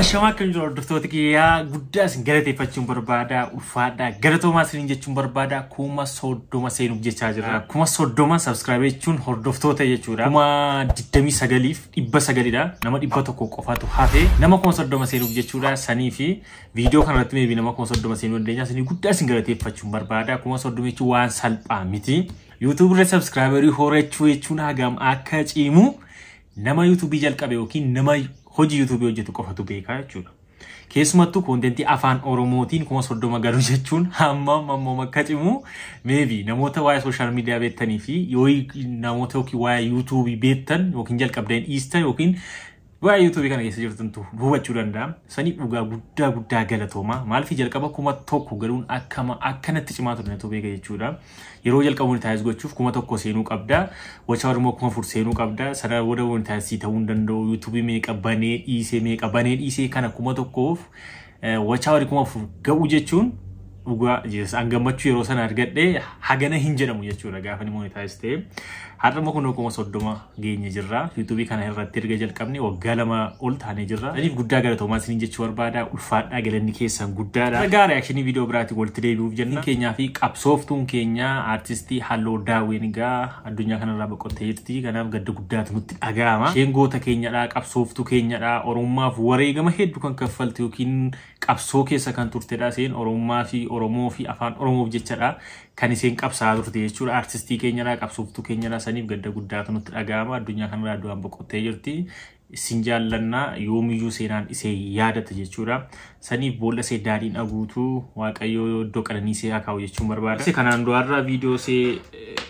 Ashamaa akkam jiru hordoftoota kiyyaa guddaa isin galateeffachuun barbaada ulfaadhaa galatoomaa isiniin jechuun barbaada kuma soddoma seenuuf jechaa jirra kuma soddoma sabskiraayib jechuun hordoftoota jechuudha kuma digdamii sagaliif dhibba sagalidha nama dhibba tokko qofatu hafe nama kuma soddoma seenuuf jechuudha sanii fi Viidiyoo kana irratti meebii nama kuma soddoma seenuu dandeenya. Isin guddaa isin galateeffachuun barbaada. Kuma soddoma jechuun waan salphaa miti. YouTube irra subscriberii horachuu jechuun hagam akka cimu nama YouTube jalqabe yookiin nama hojii YouTube hojjetu qofatu beekaa jechuudha. Keessumattuu koontentii afaan Oromootiin kuma soddoma galu jechuun hamma mammoom akka cimu meebii namoota waa'ee sooshaal miidiyaa beektanii fi yoo namoota yookiin waa'ee YouTube beektan yookiin jalqabdeen dhiistan yookiin Waa YouTube kana keessa jirtantu hubachuu danda'a. Sanii dhugaa guddaa guddaa galatooma. Maaliif jalqaba kuma tokko galuun akkama akkanatti cimaa ture natu beeka jechuudha. Yeroo jalqaba monitaayiz gochuuf kuma tokko seenuu qabda. Wachaawar immoo kuma afur seenuu qabda. Sana booda monitaayiz sii ta'uu hin danda'u. YouTube meeqa banee dhiisee meeqa banee dhiisee kana kuma tokkoof Wachaa wari kuma afur ga'uu jechuun dhugaa Jesus an gammachuu yeroo sana argadhe hagana hin jedhamu jechuudha gaafa ni monetaayiz ta'e. Har'a immoo kunoo kuma soddoma geenye jirra. Yuutuubii kana irratti erga jalqabne waggaa lama ol taanee jirra. Saniif guddaa galatoomaa isiniin jechuu barbaada. Ulfaadhaa galanni keessan guddaadha. Ragaa reakshinii viidiyoo biraatiin walitti deebi'uuf jenna. Keenyaa fi qabsooftuun keenya aartistii Halloo Daawwiin egaa addunyaa kanarraa boqottee jirti. Kanaaf gadda guddaatu nutti dhaga'ama. Isheen goota keenyadha, qabsooftuu keenyadha, Oromummaaf wareegama heddu kan kaffalte yookiin qabsoo keessa kan turtedha. Isheen Oromummaa fi Oromoo fi Afaan Oromoof jechadha kan isheen qabsaa'aa turte jechuudha. Artistii keenyadha, qabsooftuu keenyadha. Saniif gadda guddaatu nutti dhaga'ama. Addunyaa kanarraa du'aan boqottee jirti. Isin jaallanna yoomiyyuu seenaan isee yaadata jechuudha. Saniif boolla isee daadhiin aguutu Waaqayyoo iddoo qananii isee haa kaa'u jechuun barbaada. Kanaan du'arraa viidiyoo isee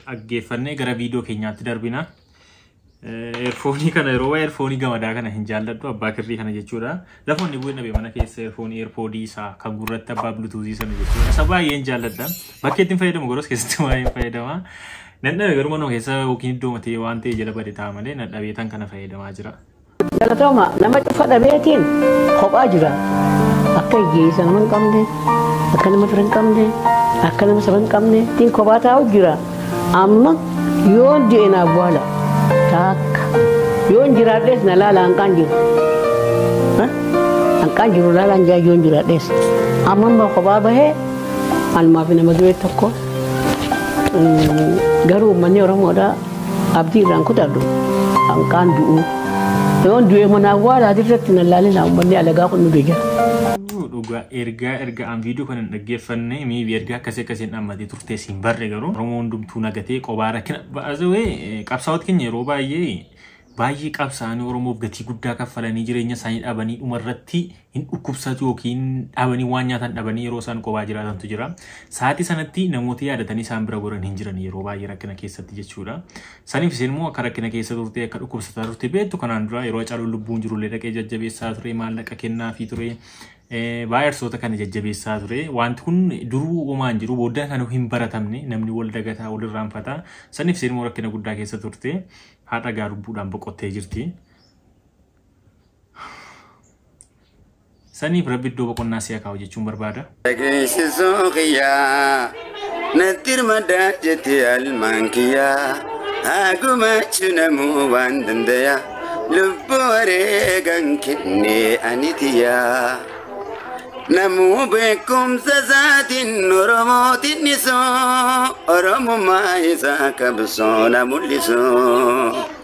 dhaggeeffannee gara viidiyoo keenyaatti darbina. Eerfoonii kana yeroo waa'ee eerfoonii gamadaa kana hin jaalladhu abbaa kirrii kana jechuudha. Lafa inni bu'ee nabe mana keessa eerfoonii eerpoodii isaa kan gurratti abbaa bilutuuzii sana jechuudha. Isa baay'een jaalladha. Bakki ittiin fayyadamu garuu keessatti baay'een fayyadama. Nadhabe garuu manuma keessa yookiin iddoo matee waan ta'e jala bade ta'a malee nadhabee tan kana fayyadamaa jira. Galatoma nama cufa dhabeetiin kophaa jira. Akka hiyyeessa nama hin qabne, akka nama fira hin qabne, akka nama saba hin qabne tiin kophaa taa'u jira. Amma yoon du'e na awwaala taakka. Yoon jiraadhees na laala hanqaan jiru. Ha? Hanqaan jiru laalaan jaa yoon jiraadhees. Amma amma kophaa bahee almaa fi nama duree tokko. Mm, Garuu uummanni Oromoodhaa Abdii irraan kutadhu hanqaan du'uu. Yoon du'ee mana awwaalaa dirratti na laalinaa uummanni alagaa kun nu deegara. Uu, Dhugaa ergaa erga an viidiyoo kana hin dhaggeeffanne miibi ergaa akkasii akkasii hin dhammatee turtee siin barre garuu Oromoo hundumtuu nagatee qobaa rakkina baasawee qabsaa'oot keenya yeroo baay'ee baay'ee qabsaa'anii Oromoof gatii guddaa kaffalanii jireenya isaanii dhabanii dhuma irratti hin dhukkubsatu yookiin dhabanii waan nyaatan dhabanii yeroo isaan qobaa jiraatantu jira. Sa'aatii sanatti namoota yaadatanii isaan bira goran hin jiran yeroo baay'ee rakkina keessatti jechuudha. Saniif isin immoo akka rakkina keessa turte akka dhukkubsataa turte beektu kanaan dura yeroo Hacaaluun lubbuun jirullee dhaqee jajjabeessaa ture maallaqa kennaafii ture. Baay'arsoota kana jajjabeessaa ture. Wanti kun duruu uumaa hin jiru booddeen kan hin baratamne namni wal dagataa wal irraanfata. Saniif isin immoo rakkina guddaa keessa turte. Haadha gaa lubbuudhaan boqottee jirti. Saniif rabbi iddoo boqonnaa si'a kaa'u jechuun barbaada. Dhageessisuu kiyyaa natti hirmadaa jette almaan kiyyaa haa gumaachu namuu waan dandaya lubbuu wareegan kennee ani tiyyaa. Namuu beekumsa isaatiin Oromootiin dhisoo Oromummaa isaa qabsoo na mul'isoo.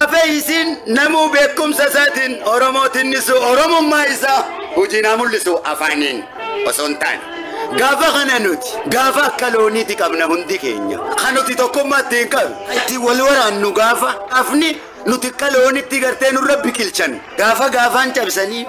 Hafee isiin namuu beekumsa isaatiin Oromoo tinnisu Oromummaa isaa hojiin haa mul'isu afaaniin osoo hin taane. Gaafa kana nuti gaafa akka looniiti qabna hundi keenya. Kan nuti tokkummaa ittiin qabnu itti wal waraannu gaafa hafni nuti akka loonitti gartee nurra biqilchan gaafa gaafaan cabsanii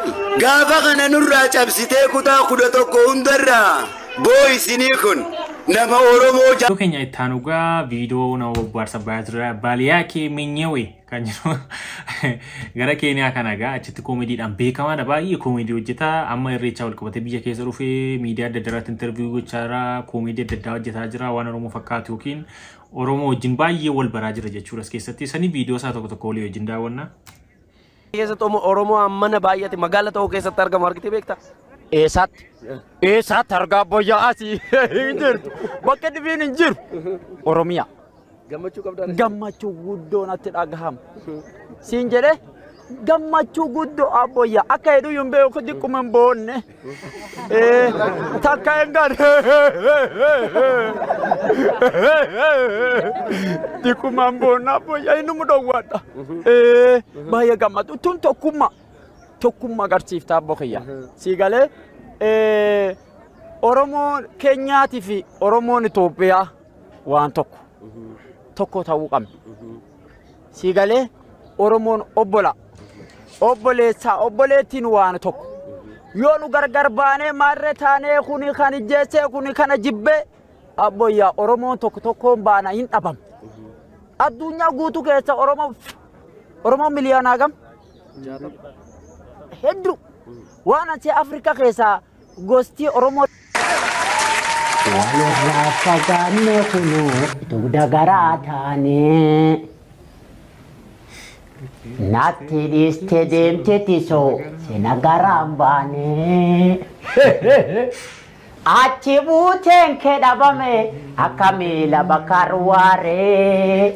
gaafa kana nurraa cabsitee kutaa kudha tokko hundarraa booyisinii kun nama oromoo Video keenya itti aanu gaa video nama bobbaarsa bayaa ture baaliyaa kee minyewe kan jedhu gara keeniyaa kana gaa achitti koomeediidhaan beekamaadha baay'ee koomeedii hojjeta amma irreechaa wal qabatee biyya keessa dhufee miidiyaa adda addaarratti interviyu gochaa jira koomeedii adda addaa hojjetaa jira waan oromoo fakkaatu yookiin Oromoo wajjin baay'ee wal baraa jira jechuudha as keessatti. Sani viidiyoo isaa tokko tokko walii wajjin daawwanna. keessatti Oromoo- Oromoo ammana baay'ate magaala ta'uu keessatti argamu argitee beekta. Eessaatti? Eessaatti argaa abbayyaa asii hin jirtu. Bakka dhibiin hin jiru. Oromiyaa. Gammachuu qabdaa. Gammachuu guddoo natti dhagahama. Siin jedhee gammachuu guddoo abbayyaa akka heduu hin beeku diqquma hin boonne. Takka hin gaane. Dikumaan boonnaa boyyaa inni mudhowwaadha. Baay'ee gammadu. Tun tokkummaa. Tokkummaa agarsiiftaa abbo kiyya. Sii galee Oromoo Keenyaatii fi Oromoon Itoophiyaa waan tokko. Tokko ta'uu qabna. Sii galee Oromoon obbola. Obboleessaa obboleettiin waan tokko. Yoo nu gargar baanee maarree taanee kuni kan ijjeessee kuni kana jibbee abboyyaa Oromoon tokko tokkoon baana hin dhabamu. Addunyaa guutuu keessa Oromoo Oromoon miliyoonaa gam? Hedduu. Waan asii Afrikaa keessaa gostii Oromoo Walirraa fagaanne kunuu dugda garaa taane. Natti dhiiste deemte tisoo sina garaan baane. Achi buuteen kee dhabame akka miila bakka arwaaree.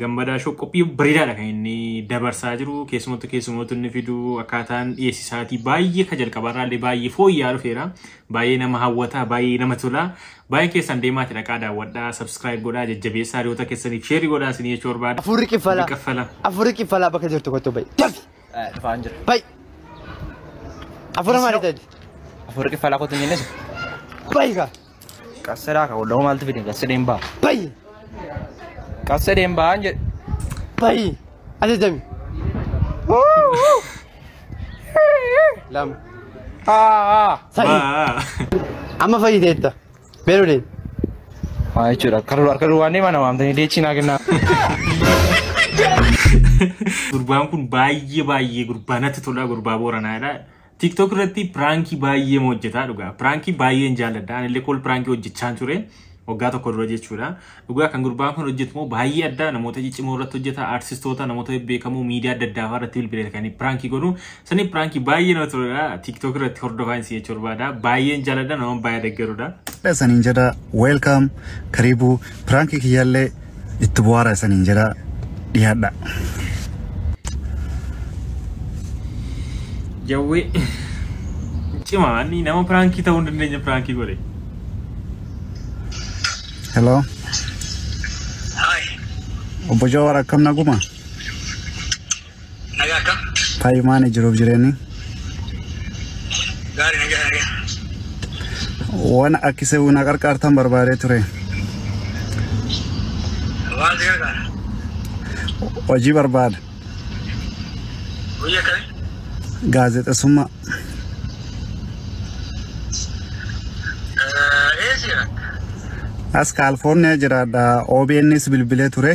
Gammadaa Shoo qophii bareedaadha kan inni dabarsaa jiru. Keessumattuu keessumattuu inni fidu akkaataan dhiyeessi isaatii baay'ee kan jalqabaarraa illee baay'ee fooyya'aa dhufeera. Baay'ee nama hawwata, baay'ee nama tola. Baay'ee keessan deemaati dhaqaa daawwadhaa, subscribe godhaa, jajjabeessaa hiriyoota keessaniif sheerii godhaa isin jechuu barbaada. Afurri kiffala. Afurri kiffala. Afurri kiffala bakka jirtu kottu bayi. Dafi. Dhufaan jira. Bayi. Afura maali tadi? Afurri kiffalaa kottu hin jennesu. Bayi kaa. Qasseraa ka walloo maaltu fide qasse deembaa. Bayi. Qasse deembaa an jedhe. Bayi. Ajajami. Lama. Haa. Sadi. Amma fayyiteetta. Beeluu deemi. Maa jechuudha akka dur akka dur waan deemaa na waamtanii deechii naa kennaa. Gurbaan kun baay'ee baay'ee gurbaa natti tolaa gurbaa booranaadha. TikTok irratti piraankii baay'ee hojjetaa dhugaa. Piraankii baay'een jaalladha. Anillee kool piraankii hojjechaan ture. Waggaa tokko dura jechuudha. Dhugaa kan gurbaan kun hojjetu immoo baay'ee adda namoota ciccimoo irratti hojjeta, artistoota, namoota bebbeekamoo miidiyaa adda addaa irratti bilbilee kan piraankii godhu. Sanii piraankii baay'ee nama tola. TikTok irratti hordofaa hin si'eechu barbaada. Baay'een jaalladha nama baay'ee deggerudha. Saniin jedha welcome karibu piraankii kiyyaallee itti bu'aaraa isaniin jedha dhiyaadha. Jawwee cimaa inni nama piraankii ta'uu hin dandeenye piraankii godhe. Hello. Obbo Jawaar akkam naguma? Nagaa akka? Taayu maani jiruuf jireenyi? Gaari nagaa nagaa. Waan akkisee na qarqaartan barbaadee ture. Waan si gargaara. Hojii barbaada. Hojii akkamii? Gaazexessummaa. Eessi jira? As Kaalifoorniyaa jiraadha. OBNs bilbilee ture.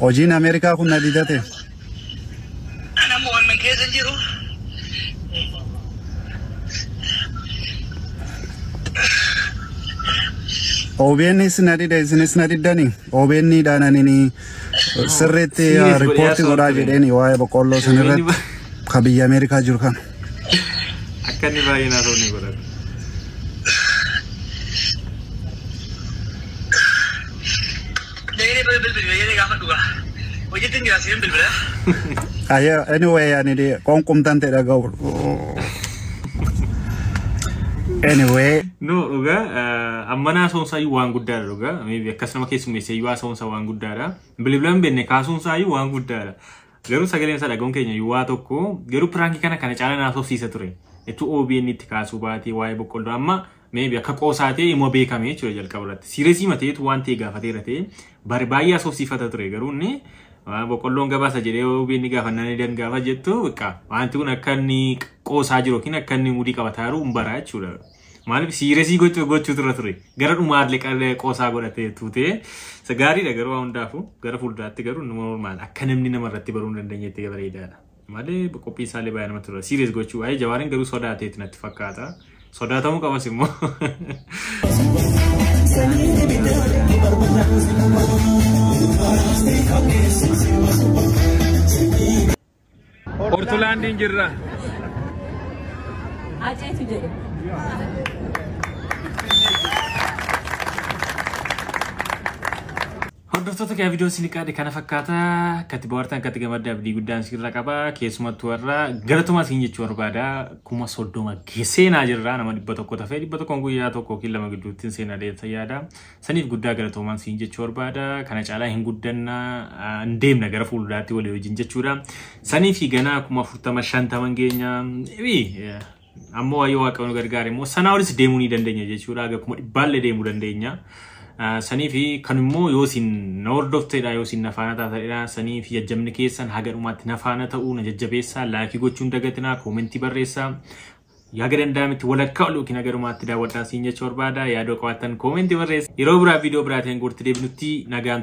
Hojiin Ameerikaa kun na didate. Ana immoo waan keessa hin jiru. OBNs na dide isinis na diddani. OBN dhaananini sirriitti Serious bari, riippoortii haasawaa godhaa ture. jedheeni waa'ee boqqolloo OBN sanirratti ba- ka biyya Ameerikaa jiru kana. Akka inni baay'ee naa ta'u ni godhata. Dayini bira bilbili dayini gafa dhuga. Hojitin jira sirin bilbila. Aye, anyway, ani di konkum tante da gaul. Anyway, No dhugaa eh, ammanaa soonsaa iyyuu waan guddaadha dhugaa. Maybe akkas nama keessummeessee iyyuu soonsaa waan guddaadha. Bilbila hin beekne kaasuunsaa iyyuu waan guddaadha. Garuu sagaleen isaa dhagahuun keenya iyyuu waa tokko garuu piraankii kana kana caalaa naaf sobsiisa ture. Itti OBN itti kaasuu baatee waa'ee boqqolloo amma Maybe akka qoosaa ta'e immoo beekame jechuudha jalqaba irratti. Siiresii mateetu waan ta'e gaafatee irra ta'e bari baay'ee asoofsiifata ture garuu inni waan boqqolloon gabaasa jedhee OBN gaafannaan ni dangaafa jettu beekaa wanti kun akka inni qoosaa jiru yookiin akka inni mudii qabataa jiru hin baraa jechuudha. Maaliif siiresii gochuu gochuu ture ture gara dhumaa illee qallee qoosaa godhatee tuutee isa gaariidha garuu waan hundaafuu gara fuulduraatti garuu nama normaal akka namni nama irratti baruu hin dandeenyetti bareedaadha. malee qophiin isaallee baay'ee namatti tola serious gochuu ayee jawaariin garuu sodaateeti natti fakkaata sodaatamuu qabas immoo Ortolaandiin jirra. Aceetu jedhe. Hordoftoota kee viidiyoon isin qaade kana fakkaata. Akkatti bohaartan akkatti gamadda abdii guddaan isin irra qaba. Keessumattuu warra galatomaa isin jechuu barbaada. Kuma soddoma seenaa jirra nama dhibba tokko tafee dhibba tokkoon guyyaa tokko yookiin lama gidduutti hin seenaa deemsa yaada. Saniif guddaa galatoomaan isin jechuu barbaada. Kana caalaa hin guddanna hin deemna gara fuulduraatti walii wajjin jechuudha. Saniif ganaa kuma afurtama shantaman geenya. Ebii Ammoo waayee waaqayyoon gargaare immoo sanaa olis deemuu ni dandeenya jechuudha. Haga kuma dhibbaallee deemuu dandeenya. Ah, Sanii fi kan immoo yoo isin na hordofteedha yoo isin na faana taataniidha sanii fi jajjabni keessan haga dhumaatti na faana ta'uu na jajjabeessaa laayikii gochuun dagatinaa koomentii barreessaa yaga danda'ametti walakkaa ol yookiin haga dhumaatti daawwadhaa siin jechuu barbaada yaadoo qabaattan koomentii barreessa yeroo biraa viidiyoo biraatiin guutti deebinutti nagaan